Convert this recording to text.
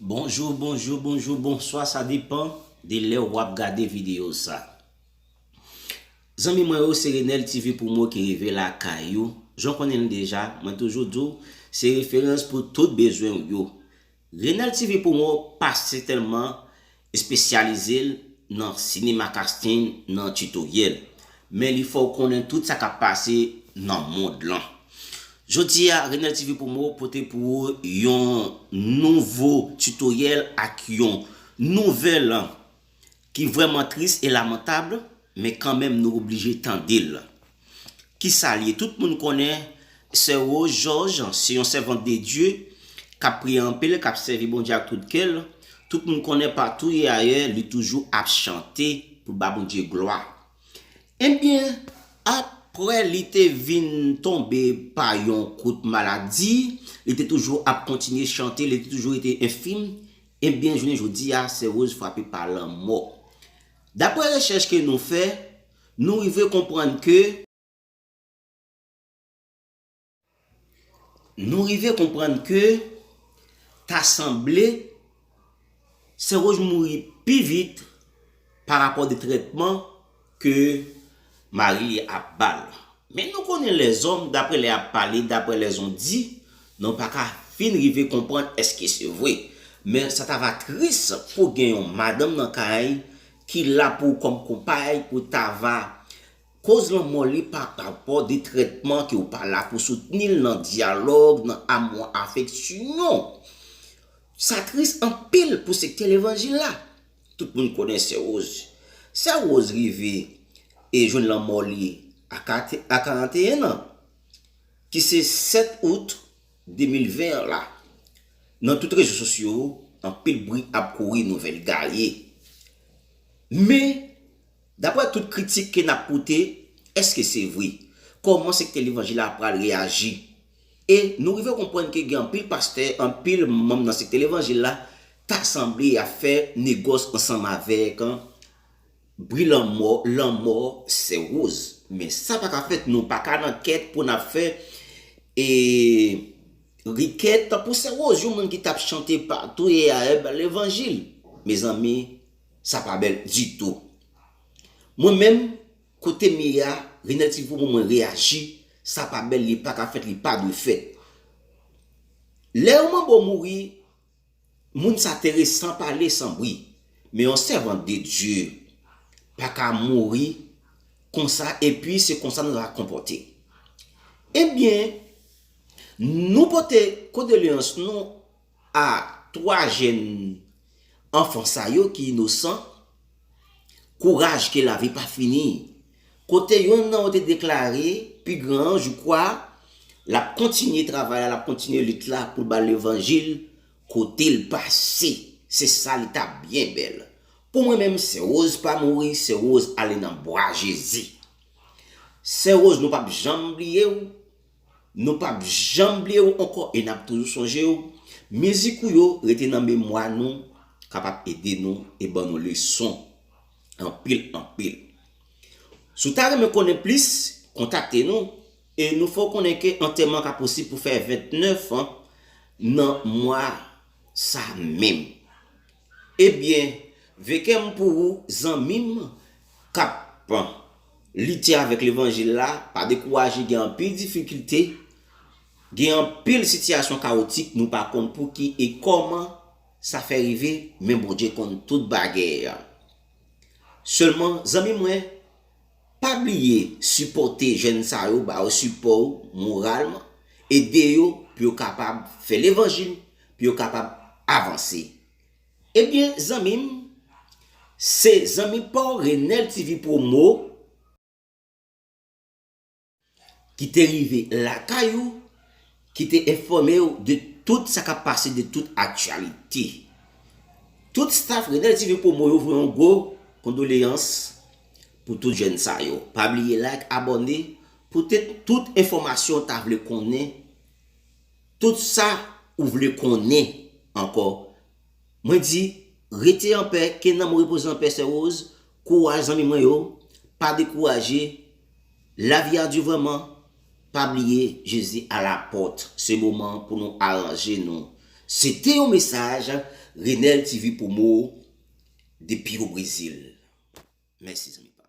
Bonjou bonjou bonjou bonswa sa depan de lè wap gade video sa Zanmi mwen yo se Renel TV Promo ki rive lakay ou jan w konnen l deja mwen toujou di w se referans pou tout bezwen w yo Renel TV Promo pa sètèlman Espesyalize l nan sinema casting nan tutoriel, men li fè w konnen tout sa k ap pase nan mond lan. Jodi a, Renel TV Promo pote pou ou yon nouvo tutoriel ak yon nouvèl ki vrèman tris e lamantab, men kanmenm nou oblije tande l. Ki sa l ye? Tout moun konnen Sè Woz Jòj se yon sèvant de Dye k ap priye anpil, k ap sèvi Bondye ak tout kè l. Tout moun konnen patou e ayè li toujou ap chante pou l ba Bondye glwa. Ebyen, apre li te vin tonbe pa yon kout maladi, li te toujou ap kontinye chante, li te toujou rete enfim, ebyen jounen jodi a Sè Woz frape pa lanmò. Dapre rechèch ke nou fè, Nou rive konprann ke. Nou rive konprann ke ta sanble Sen Woj mouri pi vit pa rapò de trètman ke mari li ap ba l. Men nou konnen lèzòm, dapre lè y ap pale, dapre lè zon di, nou pa ka fin rive konprann èske se vre. Men sa ta va tris pou gen yon madanm nan kay, Ki la pou ou kòm konpay pou Tava. Koz lanmò li pa parapò de trètman ke ou pa la pou soutni l nan dyalòg, nan amou an afeksyon. Sa tris anpil pou sektè levanjil la. Tout moun konnen Sè Woz. Sè Woz rive e jwenn lanmò li a 41 an, ki se 7 Out. 2020 an la, nan tout rezo sosyo, anpil bri ap kouri nouvèl gaye. Men, daprè tout kritik ke nap pote, eske se vre? Kòman sektè levanjil la pral reyaji? E nou rive konprann ke gen anpil pastè, anpil manm nan sektè levanjil la, ta sanble yap fè negòs ansanm avèk Bri lanmò lanmò sè rose. Men sa paka fèt nou paka nan kèt pou nap fè e rikèt pou sè rose yon moun ki tap chante pa touye aeb levanjil mezanmi sa pa bèl ditou mwen menm kotem ye a renel ti voumou mwen reyaji sa pa bèl li paka fèt li pa dwe fèt lè yon manbo mouri Moun sa tere san pale san bri men yon sèvant de Dieu paka mouri konsa epi se konsa nou ta konpòte ebyen nou pote kondoleyans nou a 3 jèn anfan sa yo ki inosan. Kouraj ke lavi pa fini. Kote yonn nan yo te deklare, pi gran an, je crois, l ap kontinye travay la, l ap kontinye lit la pou l ba levanjil kote l pase. Se sa li ta byen bèl. Pou mwen menm, Sè Woz pa mouri, Sè Woz ale nan bra Jezi. Sè Woz nou p ap janm bliye ou. Nou pap janm bliye ou ankò e nap toujou sonje ou. Mizik ou yo rete nan memwa nou kapab ede nou e ban nou leson anpil anpil. Si w ta renmen konnen plis, kontakte nou e nou fè w konnen ke antèman ka posib pou fè 29 an nan mwa sa menm. Ebyen vekem pou ou zanmim kap lite avèk levanjil la pa dekouraje gen anpil difikilte gen anpil sitiyasyon kawotik nou pa konn pouki e kòman sa fè rive men Bondye konn tout bagay selman zanmi mwen Pa bliye sipòte jèn sa yo, ba yo sipò ou moralman, ede yo pou yo kapab fè levanjil, pou yo kapab avanse. Ebyen zanmi m, se zanmi pa w Renel TV Promo. ki te rive lakay ou, ki te enfòme ou de tout sa kap pase, de tout aktyalite. Tout staff Renel TV Promo yo voye yon gwo kondoleyans pou tout jèn sa yo. Pa bliye like, abòne, poutèt tout enfòmasyon ta vle konnen, tout sa ou vle konnen ankò Mwen di, Rete an pè, ke nanm ou repoze an pè sè Rose, kouraj zanmi mwen yo, pa dekouraje, lavi a du vrèman, pa bliye Jezi a la pòt, se moman pou nou aranje nou. Se te yon mesaj Renel TV Promo depi o Brezil. Mèsi zanmi pam.